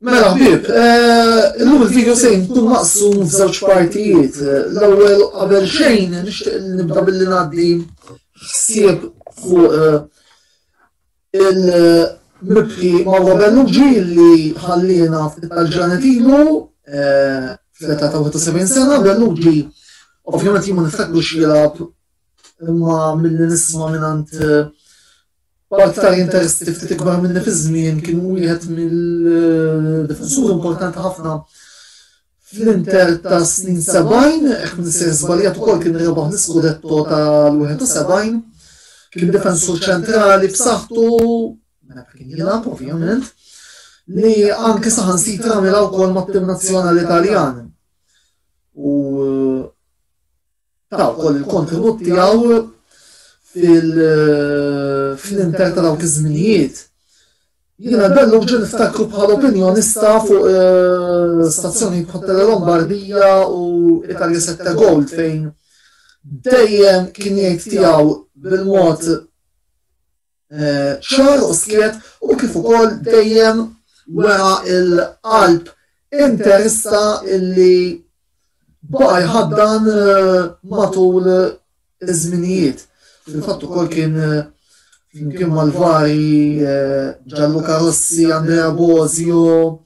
Mela ħbib, eh, illum il-video se jkun maqsum f'żewġ partijiet. L-ewwel qabel xejn nixtieq nibda billi ngħaddi ħsieb fuq eh, il-mibki Mauro Bellugi li ħallina f'Italġanet ilu eh, fl-età ta' 71 sena. Bellugi ovvjament jien ma niftakru x'jilgħab imma mill-nisma' minn B'aktar interessi ftit ikbar minni fiż-żmien kien wieħed mill-difensuri importanti ħafna fl-Inter ta' snin 70, hekk minn se żbaljat ukoll kien rebaħ l-iskudetto tal-71, kien difensur ċentrali b'saħħtu, meta kien jilgħab ovvjament, li anke saħan sitra mela wkoll mat-tim nazzjonali Italjan. U ta' wkoll il-kontenut tiegħu fil-inter ta' dawk iż-żminijiet. Jiena bellu ġen niftakru bħal opinjonista fuq eh, stazzjoni bħal Lombardija u Italia Sette Gold fejn dejjem kien jgħid tiegħu bil-mod eh, ċar u skiet u kif ukoll dejjem wera il-qalb interista illi baqa jħaddan eh, matul iż-żminijiet. Fil-fatt ukoll kien eh, flimkien mal-vari eh, Ġallu Karossi, Andrea Bozio,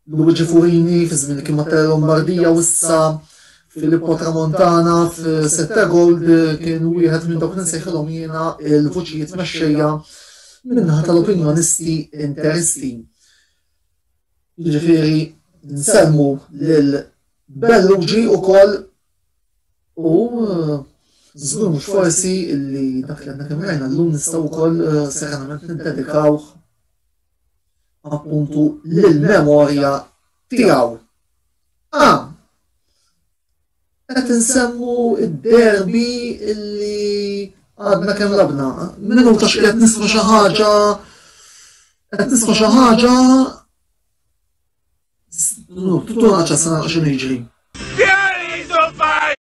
Luigi Furini fi żmien kien ma' Terra Lombardia u issa Filippo Tramontana f'Sette Gold kien wieħed minn dawk li nsejħilhom jiena l-vuċijiet mexxejja min-naħa tal-opinjonisti interisti. Jiġifieri nsellmu lil Bellugi wkoll u żgur mhux forsi li dak li għadna kemm rajna llum nistgħu wkoll serenament niddedikawh appuntu l-memorja tiegħu. A. Qed insemmu id-derbi illi għadna kemm labna. Minnu ta' xqiet nisma' xi ħaġa qed nisma' xi ħaġa Tuttu ħaġa sa xi jiġri.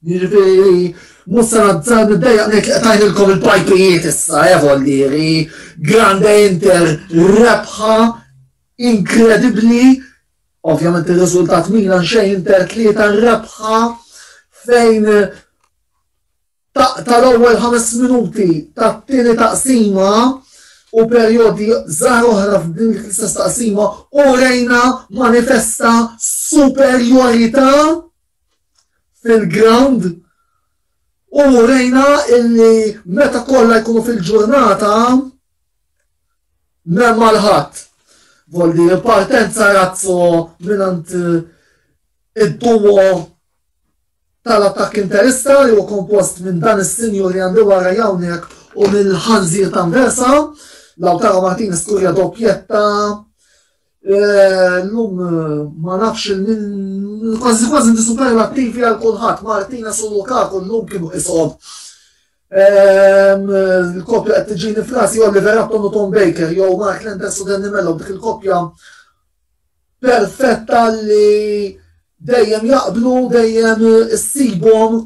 Jiġifieri, mhux se nazzar niddeja ngħid li qtajtilkom il-pajpijiet issa, eh vollieri, Grande Inter rebħa inkredibbli, ovvjament ir-riżultat Milan xejn Inter tlieta rebħa fejn taqta l-ewwel ħames minuti tat-tieni taqsima u perjodi żgħar oħra f'din l-istess taqsima u rejna manifesta superjorità fil-ground u rejna illi meta kollha jkunu fil-ġurnata m'hemm għal ħadd. Voldi partenza razzo minant id-duo tal-attakk interista li huwa kompost minn dan is-sinjur li għandu wara jawnek u mill-ħanżir ta' Versa, Lautaro Martinez kurja doppjetta Illum ma nafx il min kważi kważi inti superlattivi għal kulħadd Martina su Lukaku llum kienu qishom. Il-koppja qed tiġini f'rasi jew Liverapton u Tom Baker jew Mark Lenders u Danny Mello dik il-koppja perfetta li dejjem jaqblu dejjem issibhom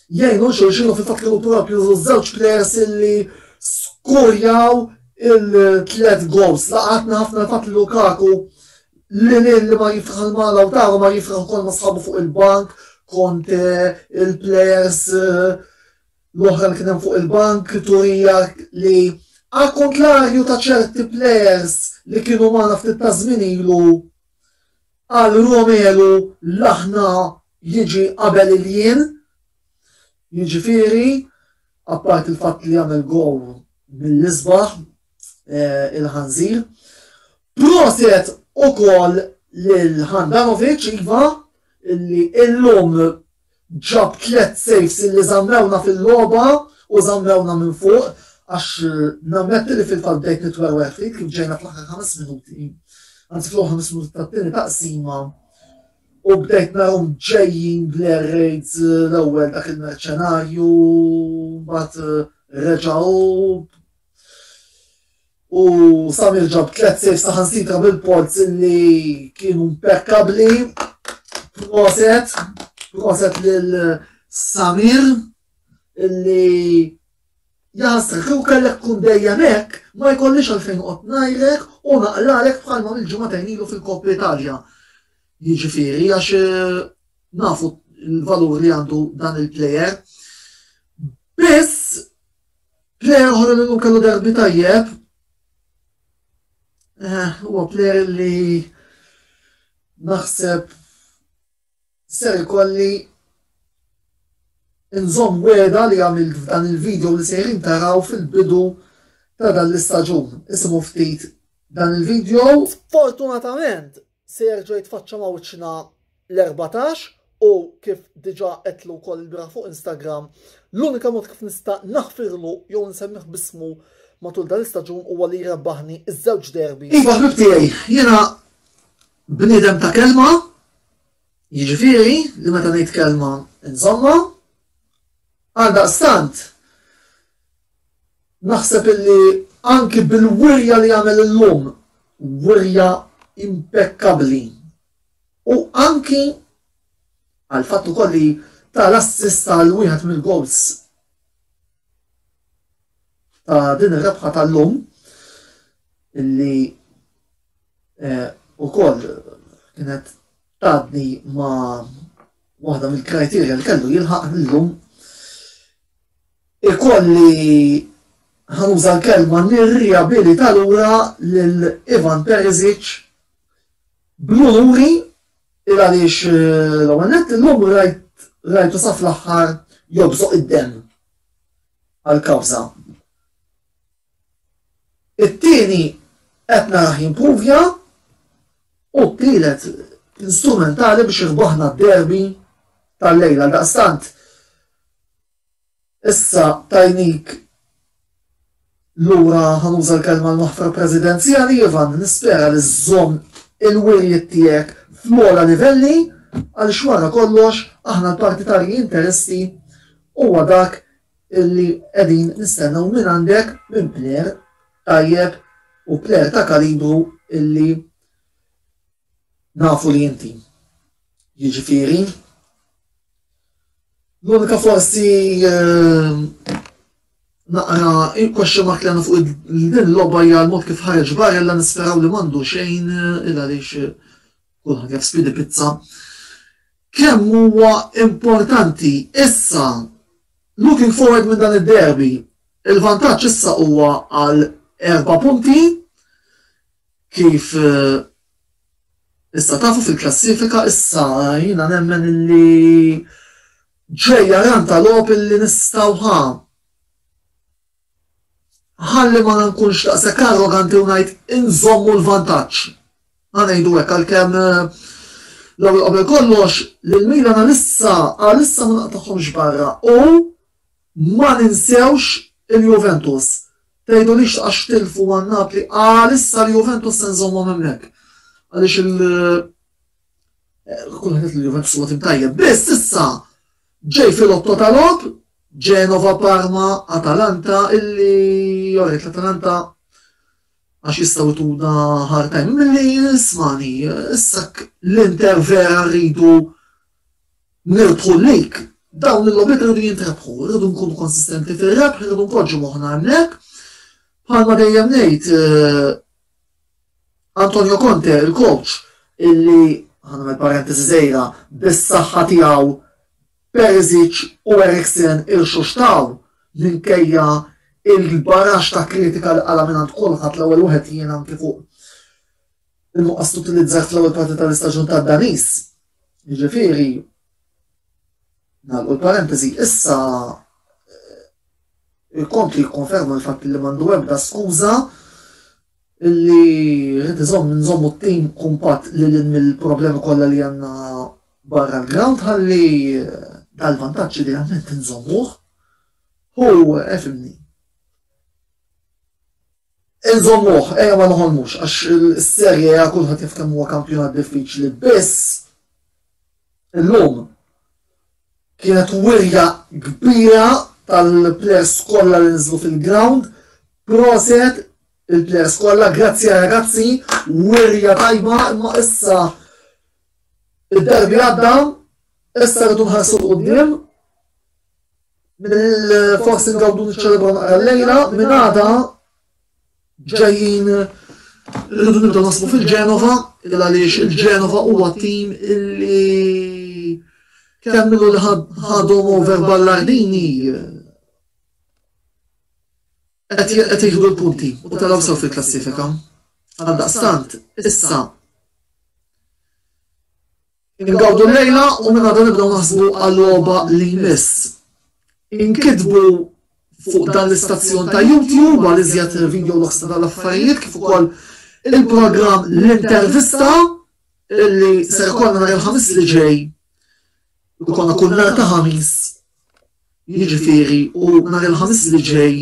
jgħinu xulxin u fil-fatt kienu propju żewġ plejers illi skurjaw il-tlet goals. Laqatna ħafna fatt li Lukaku li lin li ma jifraħ ma Lautaro ma jifraħ kol ma sħabu fuq il-bank kont eh, il-plejers eh, l-oħra li kienem fuq il-bank turija li għal kontlarju ta' ċerti plejers li kienu ma ftit ta' żmien ilu għal Romelu laħna jiġi qabel il-jien, jiġifieri apparti l-fatt li jagħmel gowl mill-isbaħ il-ħanżir. Proset ukoll lil Handanovic iva illi illum ġab tliet saves illi żammewna fil-logħba u żammewna minn fuq għax nammetti li fil-fatt bdejt nitwerwer ftit kif ġejna fl-aħħar ħames minuti. Anzi fl-aħħar ħames minuti tat-tieni taqsima U bdejt narhom ġejjin bl-air raids l-ewwel dak il-merċenarju, mbagħad reġgħu u Samir ġab tliet sejf saħansitra bil-polz li kienu impeccabli. Proset, proset lil Samir illi Jagħżlek kieku kellek tkun dejjem hekk ma jkollix għalfejn noqgħod ngħidlek u naqlalek bħal ma għamilt ġimagħtejn ilu fil-Coppa Italia. Jiġifieri għax nafu l-valur li għandu dan il-plejer. Biss plejer oħra li llum kellu derbi tajjeb eh, huwa plejer li naħseb Ser ikolli nżomm wegħda li għamilt f'dan il-video li sejrin taraw fil-bidu ta' dan l-istaġun. Isimgħu ftit dan il-video. Sfortunatament se jerġa' jitfaċċa ma' wiċċna l-erbatax u kif diġà għedtlu wkoll il-bieraħ fuq Instagram, l-unika mod kif nista' naħfirlu jew nsemmih b'ismu matul dan l-istaġun huwa li jrebbaħni ż-żewġ derbi. Iva ħbib tiegħi, jiena Bniedem ta' kelma, jiġifieri li meta ngħid kelma nżommha. Għaldaqstant, naħseb illi anki bil-wirja li għamel illum, wirja impekkabbli, u anki għal fatt ukoll li ta' l-assist għal wieħed mill-goals ta' din ir-rebħa tal-lum illi Eh, ukoll kienet tadni ma waħda mill-kriterja li kellu jilħaq illum ikolli ħanuża l-kelma nirriabilita lura lil Ivan Perisic bluri il għaliex eh, l-għanet l-lum rajt rajtu saf l-axħar jobżoq id-dem għal-kawza It-tieni qed narah jimprovja u t-tielet kien strumentali biex irbaħna d-derby tal-lejl. Għaldaqstant issa tajnik lura ħanuża l-kelma l-maħfra presidenzjali Ivan nispera li żżomm il-wirjiet tiegħek fl-ogħla livelli għaliex wara kollox aħna l-partitarji interisti huwa dak illi qegħdin nistennew mingħandek minn player tajjeb u player ta' kalibru illi nafu li inti. Jiġifieri l-unika forsi ehm, naqra il-question mark li għandna fuq din l-logħba hija l-mod kif ħareġ barella nisperaw li m'għandu xejn eh, il għaliex eh, kulħadd jaf spidi pizza. Kemm huwa importanti issa Looking forward minn dan id-derby, il-vantaġġ issa huwa għal erba' punti kif issa tafu fil-klassifika issa jiena nemmen illi ġejja run ta' logħob illi nistgħu ħa Ħalli ma nkunx daqshekk arroganti u ngħid inżommu l-vantaġġ. Ħa ngħidu hekk għalkemm l-ewwel qabel kollox lil Milan għalissa għalissa ma naqtagħhomx barra u ma ninsewx il-Juventus. Tgħidulix għax tilfu għan Napli għalissa l-Juventus se nżommhom hemmhekk. Għaliex il- eh, kulħadd il-Juventus huwa tim tajjeb, biss issa Ġej fil-Lotto ta' logħob, Genova, Parma, Atalanta illi alright l-Atalanta għax jistgħu jtuna hard time. Milli ismani, issa l-Inter vera rridu nirbħu lik. Dawn il-logħbiet rridu jintrebħu, rridu nkunu konsistenti fir-rebħ, rridu npoġġu moħħna hemmhekk. Bħalma dejjem ngħid, eh, Antonio Conte, il-coach, illi ħanamel parentesi żgħira bis-saħħa tiegħu Perisic u Eriksen irxuxtaw minkejja il-barax ta' kritika li qala minn kulħadd l-ewwel wieħed jien anki fuq il-nuqqas tutilizzar fl-ewwel parti tal-istaġun tad-Danis. Jiġifieri Nagħlqu l-parentesi, issa il-kont li jikkonferma l-fatt li mandu ebda skuża li rrid iżomm nżommu t-tim kumpat li l mill-problemi kollha li għandna barra l-ground ħalli eh, dal-vantaġġ li għamment nżommuh. Hu efimni. Eh, nżommuh, eja eh, ma noħolmux, għax il-serje għakulħat jiftem huwa kampjonat diffiċli biss Illum kienet wirja kbira tal-players kollha li nżlu fil-ground. Proset il-players kollha, grazzi ragazzi, wirja tajba, imma issa id-derbi għadda, issa rridu nħarsu l-qoddim. Mill-forsi ngawdu nċelebru naqra l-lejla, minn għada ġejjin irridu nibdew nasbu fil-Genova, il għaliex il-Genova huwa tim illi kemm illu li ħadhom over Ballardini qed jieħdu l-punti u taraw sew fil-klassifika. Għaldaqstant, issa Ingawdu l-lejla u minn għadu nibdew naħsbu għal-logħba li jmiss. Inkitbu fuq dan l-istazzjon ta' YouTube għal iżjed video loks ta' dal-affarijiet kif ukoll il-programm l-intervista illi ser konna nhar il-ħamis li ġej u konna kull nhar ta' ħamis jiġifieri u nhar il-ħamis li ġej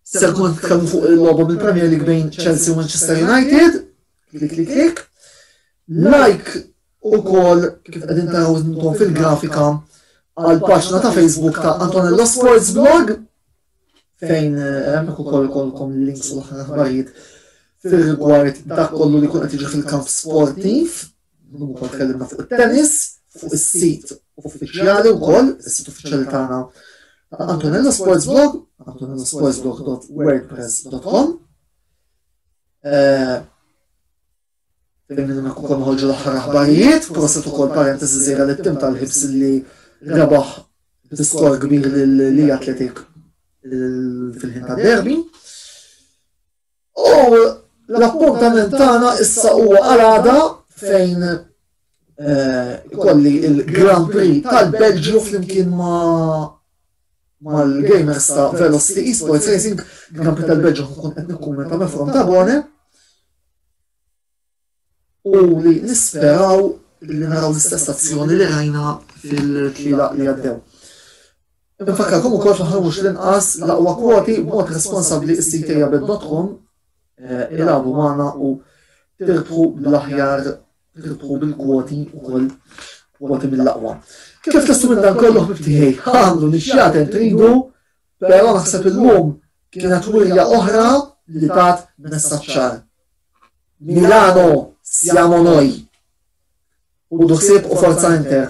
ser konna tkellmu fuq il-logħba mill-Premier League bejn Chelsea u Manchester United Klik klik klik. Like ukoll kif qegħdin taraw intom fil-grafika għal paġna ta' Facebook ta' Antonello Sports Blog fejn eh, hemmhekk ukoll ikollkom links u l-aħħar aħbarijiet fil-rigward dak kollu li kun qed jiġi fil-kamp sportiv, ukoll tkellimna fuq it-tennis, fuq is-sit uffiċjali wkoll, is-sit uffiċjali tagħna Antonello Sports Blog, antonellosportsblog.wordpress.com. eh, Fil-minna kukon ħolġu l-ħar aħbarijiet, proset ukoll parentesi zejra li tim tal-ħibs li rebaħ diskor kbir li atletik fil-ħin ta' derbi. U l-appuntament tagħna issa huwa għalada fejn Eh, kolli il-Grand Prix tal-Belġju flimkien ma' mal-gamers ta' Velocity Esports Racing, Grand Prix tal-Belġju nkun qed nikkummenta minn from ta' Bone. U li nisperaw li naraw l-istess azzjoni li rajna fil-tliela li għaddew. Infakkarkom ukoll fl-aħħar mhux l-inqas l-aqwa kwoti b'mod responsabbli s-sitejabet.com eh, il-għabu magħna u tirbħu l-aħjar Ridħu bil-kwoti ukoll kwoti mill-aqwa. Kif testu minn dan kollu ħbibtiħi, għandu li xjaten tridu, pero naħseb il-lum kienet wirja oħra li tat messaċċar. Milano, siamo noi. U duħsib u forza inter.